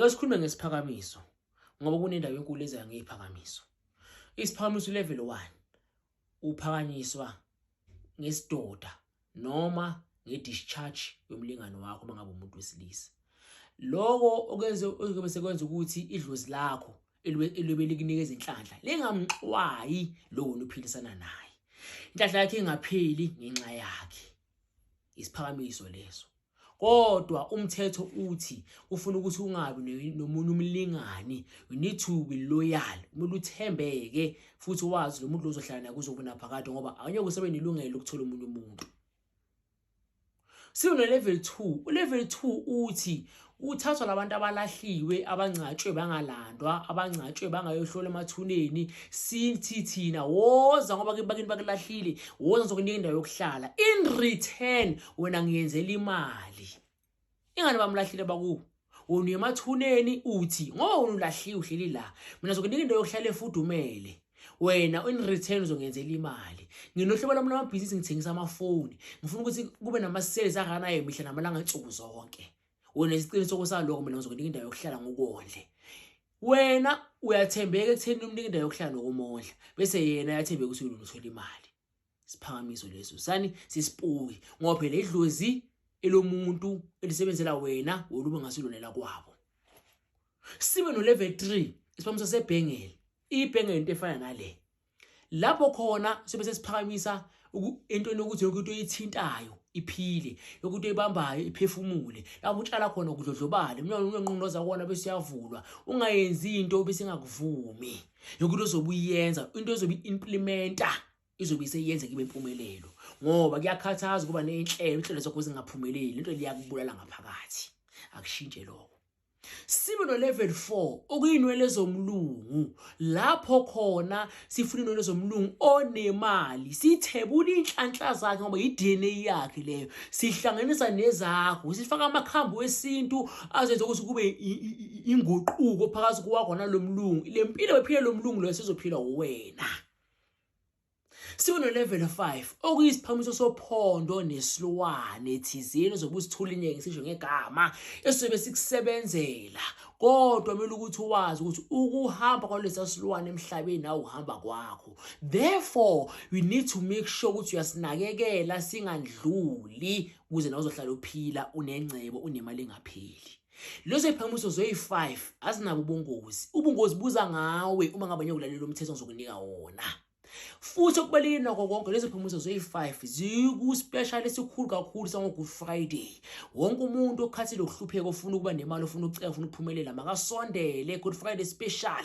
Yosikhulume ngesiphakamiso ngoba kunendawo enkulu ezayo ngeziphakamiso. Isiphakamiso level 1 uphakanyiswa ngesidoda noma nge-discharge yomlingani wakho uma ngabe umuntu wesilisa loko okwenze okuyobe sekwenza ukuthi idlozi lakho eliyobe likunika izinhlanhla lingamxwayi lowo niphilisana naye inhlanhla yakhe ingapheli ngenxa yakhe isiphakamiso leso kodwa umthetho uthi ufuna ukuthi ungabi nomunye umlingani you need to be loyal umuntu uthembeke futhi wazi lo muntu ozohlala naye kuzokuna phakade ngoba awunye kusebenza ilungelo lokuthola umunye umuntu siwune level 2 ulevel 2 uthi Ukuthathwa labantu abalahliwe abangcatshwe bangalandwa abangcatshwe bangayohlola emathuneni sithi thina woza ngoba bakini bakulahlile woza ngizokunika indawo yokuhlala in return wena ngiyenzela imali ingane bamlahlile bakubo wona uyemathuneni uthi ngoba wona ulahliwe uhleli la mina ngizokunika indawo yokuhlala efudumele wena in return uzongenzela imali nginohlobo lami lamabhizinisi ngithengisa amafoni ngifuna ukuthi kube nama-sales akanayo mihla namalanga nsuku zonke wena isiqinisoko saloko mina ngizokunika indawo yokuhlala ngokondle wena uyathembeka ekutheni umnika indawo yokuhlala nokumondla bese yena uyathembeka ukuthi ulunga uthola imali siphakamiso leso sani sisipuki ngoba phela idlozi elomuntu elisebenzela wena woluba ngasilonela kwabo sibe no level 3 isiphakamiso sebhengele ibhengele into efana nale lapho khona sibe sesiphakamisa entweni yokuthi yonke into ithintayo iphile yonke into ibambayo iphefumule lapho utshala khona ukudlodlobala umnyango unenqonqoza kona bese uyavulwa ungayenzi into bese ingakuvumi yonke into ozobuyenza into ozobe implementa izobe iseyenze kibe impumelelo ngoba kuyakhathaza ukuba nenhlelo inhlelo zakho zingaphumeleli lento liyakubulala ngaphakathi akushintshe lokho sibe nolevel 4 okuyinwele zomlungu lapho khona sifuna inwele zomlungu onemali sithebula inhlanhla zakhe ngoba yi-dna yakhe leyo sihlanganisa nezakho sifaka amakhambi wesintu azenza ukuthi kube inguquko phakathi kwakho nalo mlungu le mpilo bephile lo mlungu loyo sizophila uwena Sikuno level 5 okuyisiphamiso sophondo nesilwane thizeni zokusithula inyeke sisho ngegama esizobe sikusebenzela kodwa kumele ukuthi wazi ukuthi ukuhamba kwalesa silwane emhlabeni nawe uhamba kwakho therefore we need to make sure ukuthi uyasinakekela singandluli ukuze nawe uzohlala uphila unengcebo unemali engapheli Lezo iphakamiso zoyi-5 azinabo ubungozi. Ubungozi buza ngawe uma ngabe ngiyokulalela umthetho ngizokunika wona. Futhi okubalulekile nakho konke lezo phumuzo zoyi-5 ziku-special esikhulu kakhulu sango-good friday wonke umuntu okhathile ukuhlupheka ofuna ukuba nemali ofuna ukucela ofuna ukuphumelela makasondele good friday special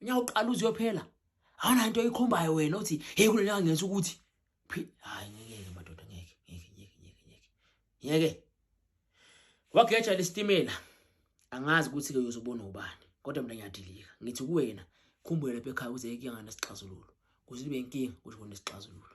unyaka uqala uziyophela awuna into oyikhombayo wena uthi hey kulo nyaka ngenza ukuthi hayi ngeke madoda ngeke ngeke ngeke ngeke ngeke ngeke wageja lesitimela angazi ukuthi ke uyozobona ubani kodwa mina ngiyadilika ngithi kuwena khumbule lapha ekhaya kuze ikuyanga nesixazululo kuze ibe inkinga kusho nesixazululo